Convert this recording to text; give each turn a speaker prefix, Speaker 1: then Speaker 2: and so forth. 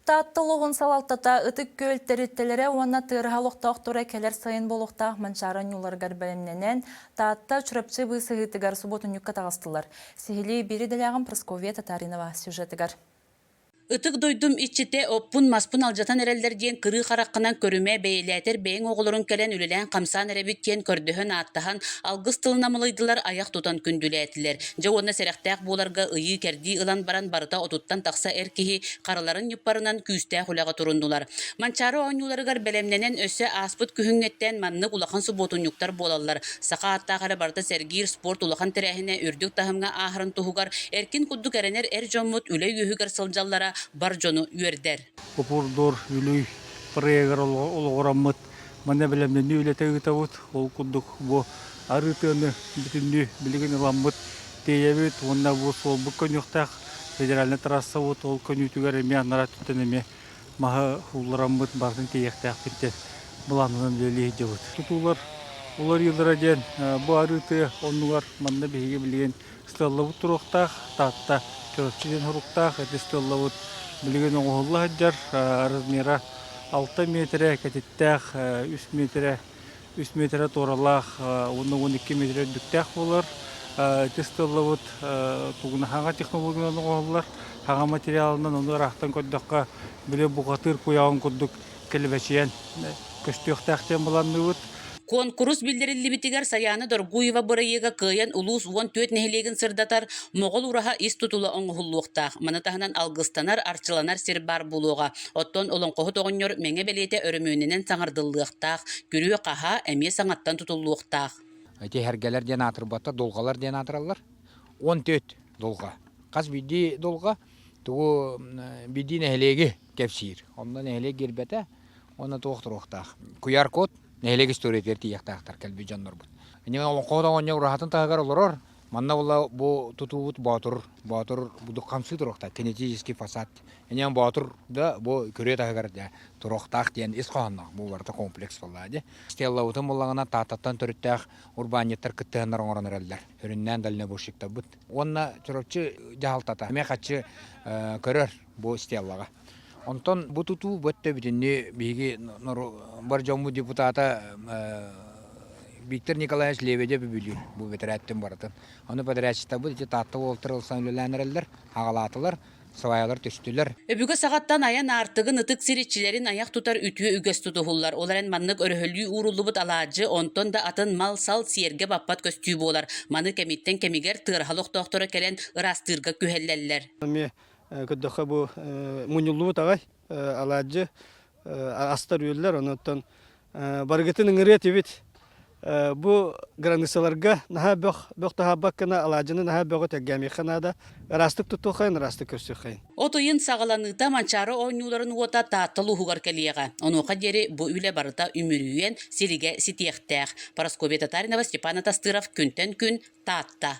Speaker 1: Таатта улууһун салалтата Ытык-Күөл тэрилтэлэрэ уонна тыараһа олохтоохторо кэлэр сайын буолуохтаах Манчаары анньууларыгар бэлэмнэнэн, Таатта Чурапчы быысыһыытыгар субуотунньукка таҕыстылар. Сиһилии биир идэлээҕим Прасковья Татаринова сюжетыгар. Ытык
Speaker 2: дойдум иччитэ оппун-маспын алдьатан эрэллэр диэн кырыы хараххынан көрүмэ бэйэлээтэр бэйэҥ оҕолорун кэлэн үлэлээн-хамсаан эрэбит диэн көрдөһөн-ааттаһан алгыс тылынан малыйдылар айах тутан күндүлээтилэр. Дьэ уонна сэрэхтээх буоларга ыйыы-кэрдии ылан баран барыта отуттан тахса эр киһи хараларын ньуппарынан күүстээх үлэҕэ туруннулар. Манчаары оонньууларыгар бэлэмнэнэн өссө ааспыт күһүҥҥэттэн маннык улахан субуотунньуктар буолаллар. Саха ааттаах эрэ барыта сэргиир спорт улахан тэрээһинэ үрдүк таһымҥа ааһарын туһугар эркин курдук эрэнэр эр дьоммут үлэ үөһүгэр сылдьаллара бар дьону үөрдэр. Попурдур
Speaker 3: Бүлүй бырайыгар олоҕураммыт Манна бэлэмнэнии үлэтэ ыытабыт. Ол курдук бу арыытыаны бүтүннүү билигин ыламмыт тиэйэбит уонна бу суолбут көнүөхтээх федеральнай трассабыт ол көнүүтүгэр эмиэ анараа өттүттэн эмиэ маһы ууллараммыт барытын тиэйиэхтээхпит былаанынан үлэлии сылдьабыт. Тутуулар уларыйыылара диэн бу арыытыы оннугар манна биһиги билигин Сыталлабыт туруктаах, Таатта, Чурапчы диэн соруктаах ити сыталлабыт. Билигин оҥоһулла сылдьар размера алта миэтэрэ кэтиттээх, үс миэтэрэ үс миэтэрэ туоралаах уонна уон икки миэтэрэ үрдүктээх буолар. Ити сыталлабыт тугуна хаҥа технологиянан оҥоһуллар. Хаҥа материалынан ону ыраахтан көрдөххө, били бухатыыр куйааҕын курдук кэлбэчиэн көстүөхтээх диэн быланныыбыт. Куонкурус
Speaker 2: биллэриллибитигэр Саяна Доргуева бырайыага кыайан улуус уон түөрт нэһилиэгин сырдатар Моҕол ураһа ис тутула оҥоһуллуохтаах. Маны таһынан алгыстанар, арчыланар сир баар буолуоҕа. Оттон Олоҥхоһут оҕонньор Мэҥэ бэлиэтэ өрөмүөнүнэн саҥардыллыахтаах, күрүө-хаһаа эмиэ саҥаттан тутуллуохтаах. Тиһэргэлэр
Speaker 4: диэн аатырбаттар, долгалар диэн аатыраллар. Он төрт долга. Хас биирдии долга Тугу бирдии нэһилиэги кэпсиир. Онно нэһилиэк гирбэтэ уонна туох туруохтаах. Куяр-кот нэһилиэк историятыгар тиийиэхтээхтэр кэлбит дьоннорбут. Олоҥхоһут оҕонньор ураһатын таһыгар олорор. Манна була бу тутуубут боотур. Боотур хамсыы туруохтаах. Кинетический фасад. Ини боотур да бу күрүө таһыгар дьэ туруохтаах диэн ис хоһоонноох бу барыта комплекс буоллаҕа дии. Стеллабытын буллаҕына Тааттаттан төрүттээх урбаанньыттар кыттыһаннар оҥорон эрэллэр. Сүрүннээн дальнобойщиктарбыт уонна Чурапчы дьаһалтата эмиэ хаччы көрөр бу стеллаҕа. Онтон бу тутуу бу өттөбүтүннүү биһиги бар дьоммут депутата Виктор Николаевич Лебедев үбүлүүр бу бэтэрээттэн барытын. Ону бэтэрээччитэрбит ити Таатта уолтара ылсан үлэлээн эрэллэр, аҕалаатылар. салайаалар түстүлэр. Өбүгэ саҕаттан айан
Speaker 2: аартыгын, ытык сир иччилэрин айах тутар үтүө үгэс тутуһуллар. Ол эрэн маннык өрөһөлүү ууруллубут алаадьы, онтон да атын мал-сал сиэргэ баппат көстүү буолар. Маны кэмиттэн кэмигэр тыараһал охтоохторо кэлэн ыраастыырга күһэллэллэр. Эмиэ көрдөххө
Speaker 5: бу мунньуллубут аҕай. алаадьы астар-үөллэр, онон барыгытын ыҥырыа этибит. Бу границаларга наһаа бөх, бөх таһаарбаккына алаадьыны наһаа бөҕө тэлгээмиэххэ наада. Ыраастык туттуоххайын, ыраастык көрсүөххайын. От ыйын саҕаланыыта
Speaker 2: Манчаары оонньууларын уота Таатта улууһугар кэлиэҕэ. Онуоха диэри бу үлэ барыта үмүрүйүөн, сиригэ ситиэхтээх. Парасковья Татаринова, Степан Атастыров, күнтэн күн Таатта.